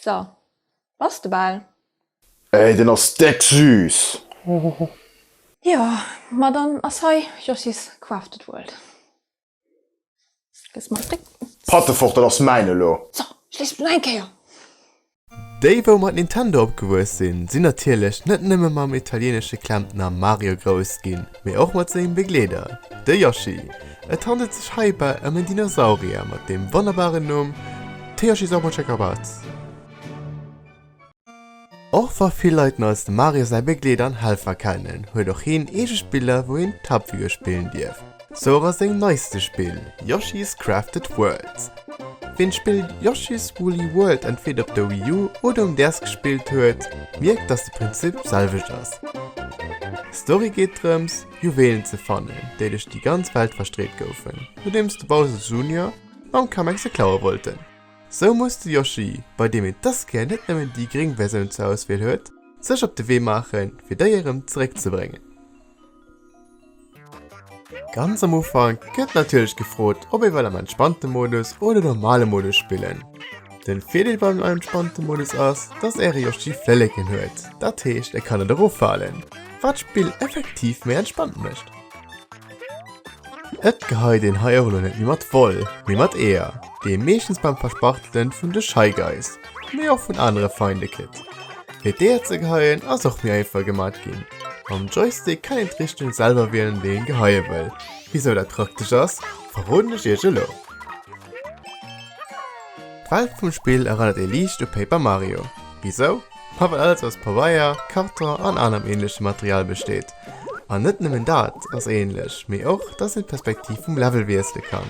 So, bass de bal? Ey, den ass deck süss! Jo, ma dann ass hei Joschis Crafted World. Gëss mer e Fréck. Patte fort, dat ass mäin elo! So, schléiss op no eng Kéier! Déi wou mat Nintendo opgewuess sinn, sinn natierlech net nëmme mam italienesche Klempner Mario grouss ginn. mee och mat sengem Begleeder, de Yoshi. Et handelt sech heibäi ëm en Dinosaurier mat dem wonnerbaren Numm Tsuyoshi Zobochekabatz. Och wa vill Leit en als dem Mario säi Begleeder an Helfer kennen, huet och hien eege Spiller wou een d'Haaptfigur spillen dierf, sou och a sengem neiste Spill Yoshi's Crafted Worlds. Ween d'Spill Yoshi's Woolly World entweder op der Wii U oder um DS gespillt huet, mierkt dass de Prinzip selwecht ass. D'Story geet drëms Juwelen ze fannen, déi duerch déi ganz Welt verstreet goufen, nodeems de Bowser Junior mam Kamek se klaue wollten. Sou muss de Yoshi, bei deem een dës Kéier net nëmmen déi gréng Versioun zur Auswiel huet, sech op de Wee maachen fir déi erëm zeréck ze bréngen. Ganz am Ufang gëtt natierlech gefrot, ob ee well am entspannte Modus oder normale Modus spillen. Den Virdeel beim entspannte Modus ass, dass äre Yoshi Flëlleken huet, dat heescht e kann net eroffalen, wat d'Spill effektiv méi entspannt mécht. Et geheit een hei och elo net méi mat Woll, mee mat Eeër, déi ee meeschtens beim Verspachtelen vun de Shy Guys, mee och vun anere Feinde kritt. Fir d'Eeër ze geheien ass och méi einfach gemat ginn. Mam Joystick kann een d'Richtung selwer wielen déi een geheie wëll. Wisou dat praktesch ass verroden ech iech elo. D'Welt vum Spill erënnert ee liicht u Paper Mario. Wisou? Ma well alles aus Pabeier, Karton an anerem änlechem Material besteet. An net nëmmen dat ass änlech, mee och dass een d'Perspektiv vum Level wiessele kann.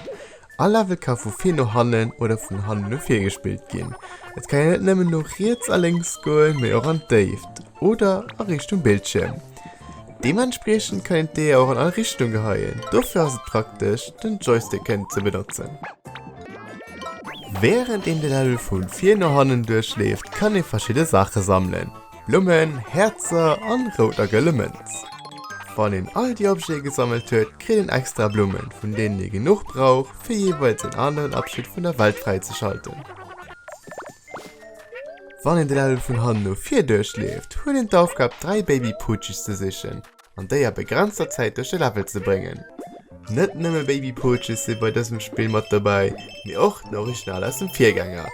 All Level ka vu vir no hannen oder vun hannen no vir gespillt ginn. Et kann een net nëmmen no riets a lénks goen, mee och an d'Déift oder a Richtung Bildschierm. Deementspriechend kann een d'Eeër och an all Richtung geheien, dofir ass et praktesch den Joystick kënnen ze benotzen. Wärend een de Level vu vir no hannen duerchleeft, kann ee verschidde Saache sammelen. Blummen, Häerzer an rout a gëlle Mënz. Wann een all déi Objete gesammelt huet, kritt een extra Blummen, vun deenen ee genuch brauch, fir jeeweils een aneren Abschnitt vun der Welt fräizeschalten. Wann een den Level vun hannen no vir duerchleeft, huet een d'Aufgab, dräi Baby Poochies ze sichen, an déi a begrenzter Zäit duerch de Level ze bréngen. Net nëmme Baby Poaches si bei dësem Spill mat dobäi, mee och den Original aus dem Virgänger,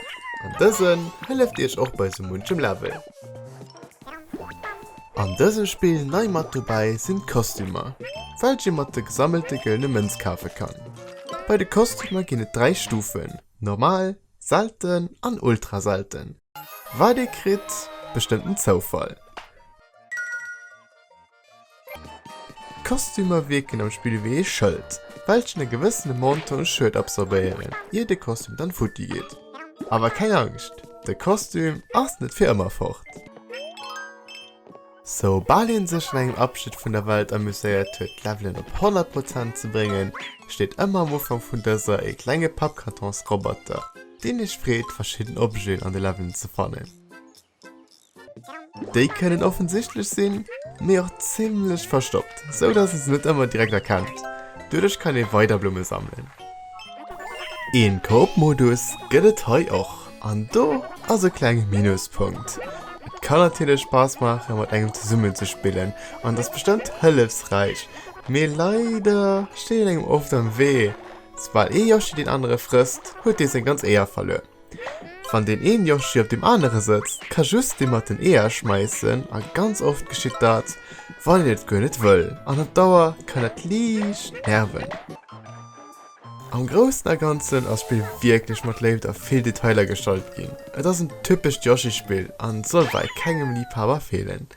an dësen hëlleft iech och bei sou munchem Level. An dësem Spill nei mat dobäi sinn d'Kostümer, welch ee mat de gesammelte gëllene Mënz kafe kann. Bei de Kostümer ginn et 3 Stufen, Normal, Selten an Ultra Selten. Wat ee kritt, bestëmmt den Zoufall. D'Kostümer wierken am Spill ewéi ee Schëld, welchen e gewëssene Montant Schued absorbéieren, ier de Kostüm dann futti geet. Awer keng Angscht, de Kostüm ass net fir ëmmer fort. Sou bal een sech an engem Abschnitt vun der Welt amuséiert huet, d'Levelen op 100 Prozent ze bréngen, steet ëmmer am Ufank vun dëser ee klenge Pappkartons-Roboter, deen iech freet, verschidden Objeten an de Levelen ze fannen. Déi kënnen offensichtlech sinn, mee och zimmlech verstoppt, sou dass ee se net ëmmer direkt erkennt. Doduerch kann ee weider Blumme sammelen. Een Koop-Modus gëtt et hei och, an do ass e klenge Minuspunkt. Et kann natierlech Spaass maachen mat engem zesummen ze spillen, an et ass bestëmmt hëllefsräich, mee leider steet een engem oft am Wee. Soubal ee Yoshi deen anere frësst, huet dee seng ganz Éier verluer. Wann deen een Yoshi op deem anere sëtzt, ka just dee mat den Eeër schmeissen a ganz oft geschitt dat, wann een et guer net wëll an op Dauer kann dat liicht nerven. Am Groussen a Ganzen ass d'Spill wierklech mat Léift a vill Detailer gestalt ginn. Et ass en typescht Yoshi-Spill a soll bei kengem Liibhaber feelen.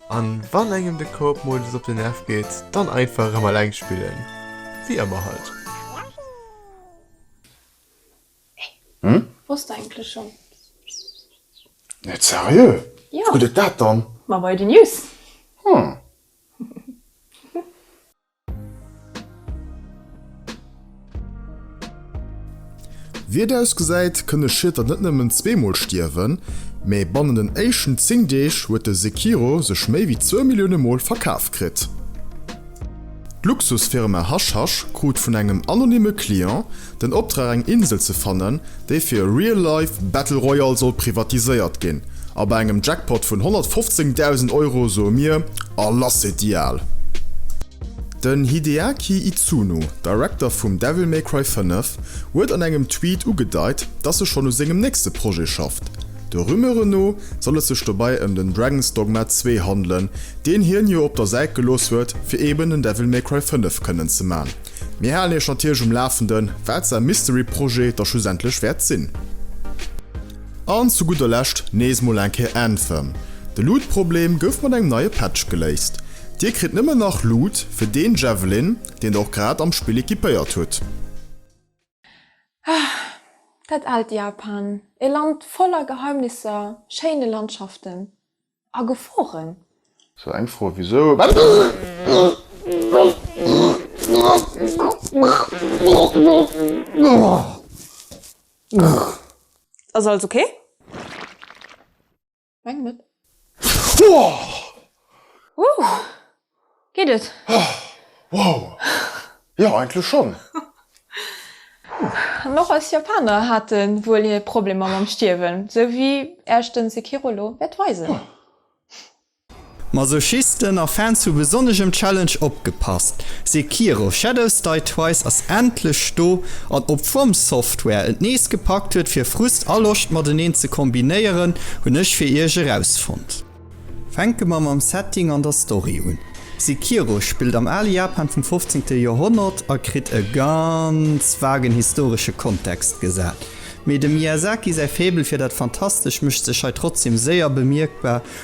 An wann engem de Coop-Modus op den Nerv geet, dann einfach erëm alleng spillen, wéi ëmmer halt. Wosst der eigentlech schon? Net seriö? Jo. Gutt et dat dann? Ma bei den News. Hm. Wéi et ausgesäit, kënne Schieter net nëmmen zweemol stierwen, mee bannen den éischten 10 Deeg huet de Sekiro sech méi wéi zwou Millioune Mol verkaf kritt. D'Luxusfirma Hush Hush krut vun engem anonymme Client den Optrag eng Insel ze fannen, déi fir e Real Life Battle Royale soll privatiséiert ginn. A bei engem Jackpot vun 115.000 Euro soe mir, A lass et déi al! Den Hideaki Itsuno, Director vum Devil May Cry 5, huet an engem Tweet ugedeit, dass e schonn u sengem nächste Projet schafft. De Rumeuren no soll et sech dobei ëm den Dragon's Dogma 2 handelen, deen hien jo op der Säit gelooss huet fir eben en Devil May Cry 5 kënnen ze man. Mir halen iech natierlech um Lafenden wat säi Mystery Projet da schlussendlech wäert sinn. An zu gudder Lescht nees mol eng Kéier Anthem. De Loot Problem gouf mat engem neie Patch geléist. Dir kritt nëmmen nach Loot fir deen Javelin deen der och grad am Spill equipéiert hutt. Ah, dat aalt Japan, e Land voller Geheimnisser, schéine Landschaften a Geforen. Sou eng Fro ewéi sou. Wat ass et? Ass alles ok? Meng net. Wouh! Geet et? Wow! Jo, eigentlech schonn. An och eis Japaner hate wuel hir Problemer mam Stierwen, esou wéi Äerch den Sekiro lo wäert weisen. Masochisten a Fans hu besonnesch um Challenge opgepasst, Sekiro, Shadows Die Twice ass endlech do, an ob FromSoftware et nees gepackt huet fir Frust a Loscht mateneen ze kombinéieren, hunn ech fir iech erausfonnt. Fänke mer mam Setting an der Story un. Sekiro spillt am ale Japan vum 15. Joerhonnert a kritt e ganz vagen historesche Kontext gesat. Mee dem Miyazaki säi Faible fir dat Fantastesch mécht sech hei trotzdem séier bemierkbar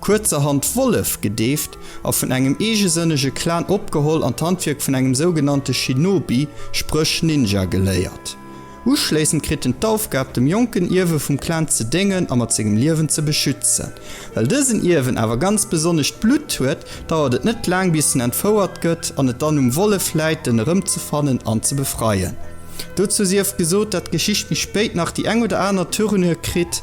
kuerzerhand Wollef gedeeft a vun engem eegesënnege Clan opgeholl an d'Handwierk vun engem sougenannte Shinobi, spréch Ninja, geléiert. Uschléissend kritt en d'Aufgab, dem jonken Ierwe vum Clan ze déngen a mat sengem Liewen ze beschützen. Well dësen Ierwen awer ganz besonnescht Blutt huet, dauert et net laang, bis en entfouert gëtt an et dann um Wollef läit, en erëmzefannen an ze befreien. Dozou sief gesot, dat d'Geschicht méi spéit nach déi eng oder aner Tournure kritt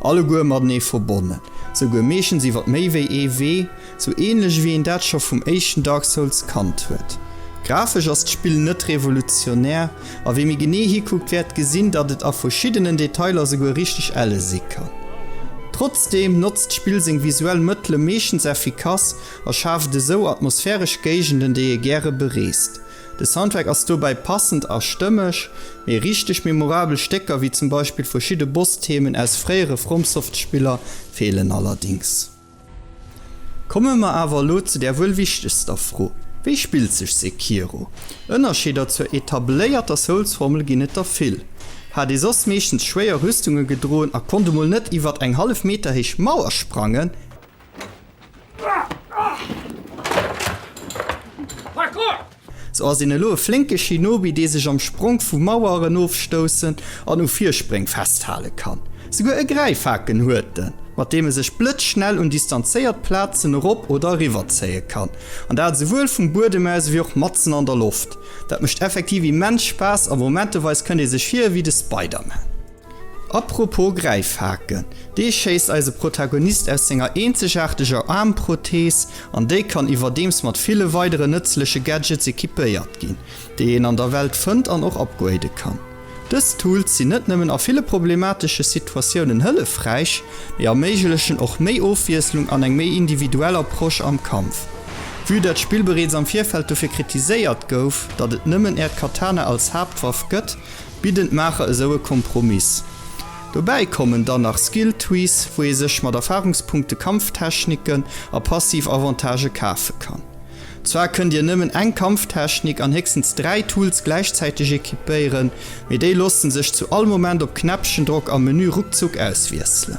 Alleguer matenee verbonnen, souguer meeschtens iwwer méi wéi ee Wee, sou änlech ewéi een dat scho vum éischten Dark Souls kannt huet. Grafesch ass d'Spill net revolutionär, a wee méi genee hikuckt wäert gesinn, datt et a verschiddenen Detailer souguer richteg elle si kann. Trotzdeem notzt d'Spill seng visuell Mëttele meeschtens effikass a schaaft esou atmosphäresch Géigenden, déi ee gäre bereest. De Soundtrack ass dobäi passend a stëmmeg, mee richteg memorabel Stécker, wéi zum Beispill verschidde Boss-Themen aus fréiere FromSoft-Spiller, feelen allerdéngs. Komme mer awer elo zu där wuel wichtegster Fro, Wéi spillt sech Sekiro? Ënnerscheeder zur etabléierter Souls-Formel ginn et der vill. Hat ee soss meeschtens schwéier Rüstunge gedroen a konnt emol net iwwert eng hallef Meter héich Mauer sprangen, Sou ass een elo e flénke Shinobi, dee sech am Spronk vu Maueren ofstoussen an u Virspréng festhale kann. Souguer e Gräifhaken huet en, mat deem e sech blëtzschnell un distanzéiert Plazen erop oder eriwwer zéie kann, an dat esouwuel vum Buedem aus ewéi och matzen an der Loft. Dat mécht effektiv immens Spaass a momenteweis kënnt ee sech vir ewéi de Spider-Man. Apropos Gräifhake, dee schéisst eise Protagonist aus senger eenzegaarteger Aarmprothees an déi kann iwwerdeems mat ville weidere nëtzleche Gadgets equipéiert ginn, déi een an der Welt fënnt an och upgrade kann. Dës Tools sinn net nëmmen a ville problematesche Situatiounen hëllefräich, mee erméiglechen och méi Ofwiesslung an eng méi individuell Approche am Kampf. Vue dat d'Spill bereets am Virfeld dofir kritiséiert gouf, datt et nëmmen Äert Katana als Haaptwaff gëtt, Bidden d'Maacher esou e Kompromiss. Dobäi kommen dann nach Skill Trees, wou ee sech mat Erfarungspunkte Kampftechniken a passiv Avantagë kafe kann. Zwar kënnt dir nëmmen eng Kampftechnik an héchstens dräi Tools gläichzäiteg equipéieren, mee déi loosse sech zu all Moment op Knäppchendrock am Menü ruckzuck auswiesselen.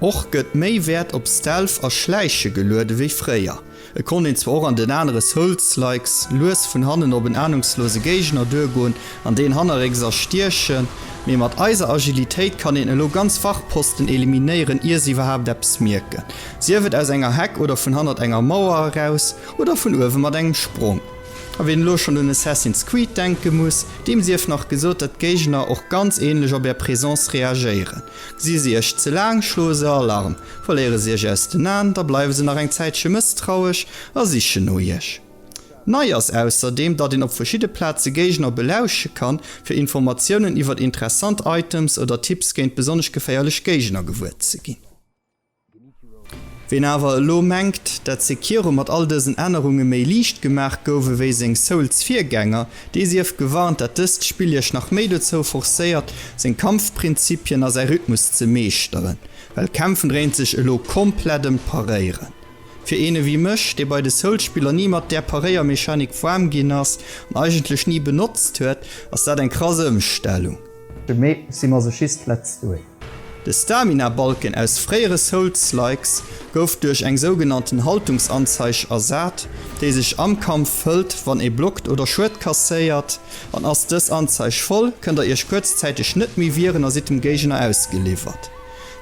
Och gëtt méi Wäert op Stealth a Schläiche geluede wéi fréier. Et konnt een zwar och an den anere Souls-likes lues vun hannen op en ahnungslose Géigner duergoen an deen hannerrécks erstiechen, mee mat eiser Agilitéit kann een elo ganz Wachposten eliminéieren ier se iwwerhaapt eppes mierken, sief et aus enger Heck oder vun hannert enger Mauer eraus oder vun uewe mat engem Sprong. A wien elo schonn un Assassin's Creed denke muss, deem sief nach gesot, datt d'Géigner och ganz ähnlech op är Présence reagéieren. Gsi se iech ze laang, schloe se Alarm. Verléiere se iech aus den Aen, da bleiwe se nach eng Zäitche mësstrauesch a sichen no iech. Nei ass ausserdeem, datt een op verschidde Plaze Géigner belausche kann, fir Informatiounen iwwert interessant Items oder Tipps géint besonnesch geféierlech Géigner gewuer ze ginn. Ween awer elo mengt, dat Sekiro mat all dësen Ännerunge méi liicht gemaach gouf ewéi seng Souls-Virgänger, dee sief gewarnt, dat dëst Spill iech nach méi dozou forcéiert, seng Kampfprinzipien a säi Rhythmus ze meeschteren. Well Kämpfen dréint sech elo komplett ëm d'Paréieren. Fir een ewéi mech, dee bei de Souls-Spiller ni mat där Paréiermechanik warm ginn ass an eigentlech ni benotzt huet, ass dat eng krass Ëmstellung. Mee si Masochist, let's do it! De Stamina-Balken aus fréiere Souls-likes gouf duerch eng sougenannten Haltungsanzeig ersat, déi sech am Kampf fëllt, wann ee blockt oder Schued kasséiert. An ass dës Anzeig voll, kënnt der iech kuerzzäiteg net méi wieren a sidd dem Géigner ausgeliwwert.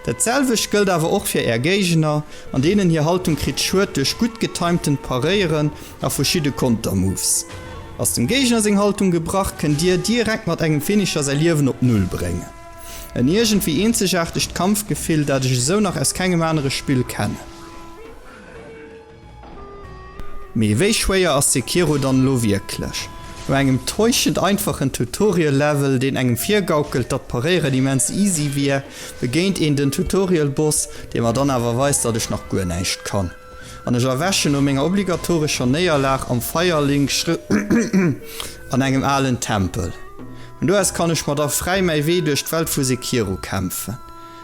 Dat selwecht gëllt awer och fir Är Géigner, an deenen hir Haltung kritt Schued duerch gutt getimtent Paréieren a verschidde Kontermoves. Ass dem Géigner seng Haltung gebrach, kënnt Dir direkt mat engem Finisher säi Liewen op Null bréngen. En iergendwéi eenzegaartegt Kampfgefill, dat ech esou nach aus kengem anere Spill kennen. Mee wéi schwéier ass Sekiro dann elo wierklech? No engem täuschend einfachen Tutorial Level, deen engem virgaukelt datt paréieren immens easy wier, begéint een den Tutorial Boss, dee mer dann awer weist datt ech nach guer näischt kann, an ech erwächen no menger obligatorescher Néierlag am Firelink an engem alen Tempel. Vun do aus kann ech mer da fräi mäi Wee duerch d'Welt vu Sekiro kämpfen.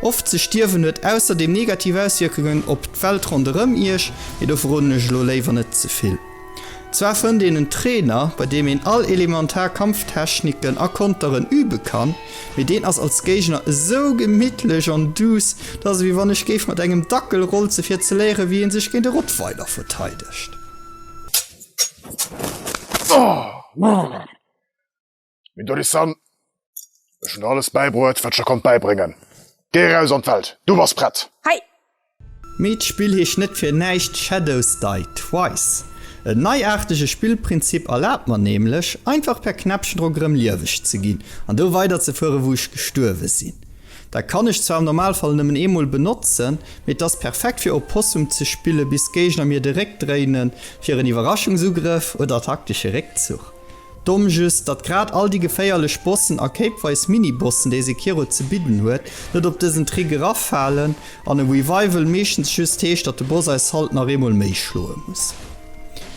Oft ze stierwen huet ausserdeem negativ Auswierkungen op d'Welt ronderëm Iech, mee do verroden ech elo léiwer net ze vill. Zwar fënnt een en Trainer, bei deem een all elementar Kampftechniken a Konteren übe kann, mee deen ass als Géigner esou gemittlech an duuss, dat ass ewéi wann ech géif mat engem Dackel rolze fir ze léieren, wéi ee sech géint e Rottweiler verteidegt. Min Dorisan, ech hun alles bäibruet, wat ech der konnt bäibréngen. Géi eraus an d'Welt, du bass prett! Hei! Meet spill hich net fir näischt Shadows Die Twice. En neiaartege Spillprinzip erlaabt mer nämlech, einfach per Knäppchendrock erëm lieweg ze ginn an do weiderzefuere wou ech gestuerwe sinn. Dat kann ech zwar am Normalfall nëmmen eemol benotzen, mee et ass perfekt fir Opossum ze spille bis d'Géigner mir de Réck dréinen fir en Iwwerraschungsugrëff oder taktesche Réckzuch. Domm just, datt grad all déi geféierlech Bossen a kéipweis Mini-Bossen, déi Sekiro ze bidden huet, net op dësen Trick eraffalen an e Revival meeschtens just heescht, datt de Boss eis halt nach eemol méi schloe muss.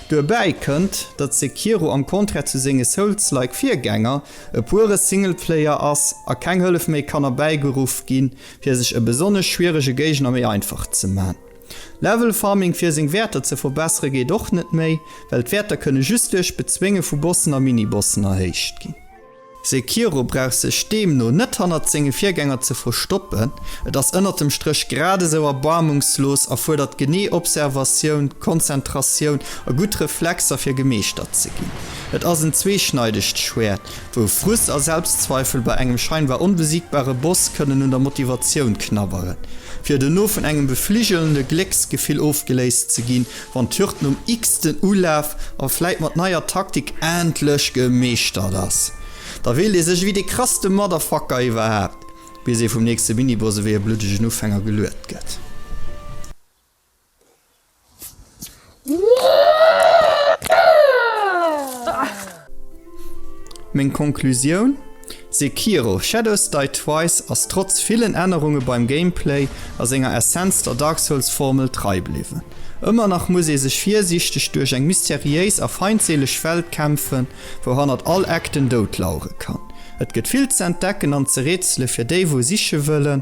Duerbäi kënnt, datt Sekiro am Contraire zu senge Souls-like Virgänger e pure Singleplayer ass a keng Hëllef méi kann erbäigeruff ginn, fir sech e besonnesch schwierege Géigner méi einfach ze man. Level Farming fir seng Wäerter ze verbessere geet och net méi, well d'Wäerter kënne just duerch Bezwénge vu Bossen a Mini-Bossen erhéicht ginn. Sekiro brauch sech deemno net hannert senge Virgänger ze verstoppen, et ass ënnert dem Stréch grad esou erbarmungslos a fuerdert genee Observatioun, Konzentratioun a gutt Reflexer fir gemeeschtert ze ginn. Et ass en zweeschneidegt Schwäert, wou Frust a Selbstzweifel bei engem scheinbar onbesiegbare Boss kënnen un der Motivatioun knabberen, fir dono vun engem befligelende Glécksgefill ofgeléist ze ginn, wann d'Hürd nom x-ten Ulaf a vläit mat neier Taktik endlech gemeeschtert ass. Da fillt ee sech ewéi dee krasste Motherfucker iwwerhaapt, bis ee vum nächste Miniboss ewéi e bluddegen Ufänger geluet gëtt. Meng Konklusioun, Sekiro, Shadows Die Twice ass trotz villen Ännerunge beim Gameplay a senger Essenz der Dark Souls Formel trei bliwwen. Ëmmer nach muss ee sech virsiichteg duerch eng mysteriéis a feindseeleg Welt kämpfen, wou hannert all Eck den Doud lauere kann. Et gëtt vill ze entdecken an ze rätsele fir déi wou siche wëllen.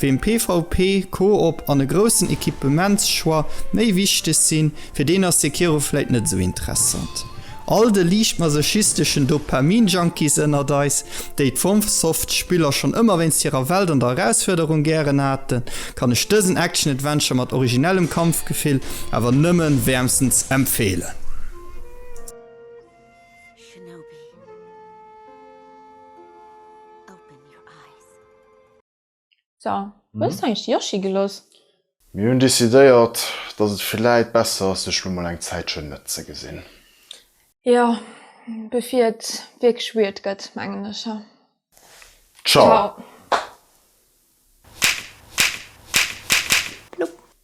Weem PvP, Coop an e groussen Equipements-Choix méi wichteg sinn, fir deen ass Sekiro vläit net esou interessant. All de liicht masochisteschen Dopamin-Junkies ënnert eis, déi d'FromSoft-Spiller schonn ëmmer wéinst hirer Welt an der Erausfuerderung gären haten, kann ech dësen Action-Adventure mat originellem Kampfgefill awer nëmme wäermstens empfeelen. So, wou hues du eigentlich de Yoshi geloss? Mir hunn decidéiert, dass et villäit besser ass, sech lo mol eng Zäitchen net ze gesinn. Jo, bevir et wierklech weird gëtt, mengen ech. Ciao! Ciao! Plopp!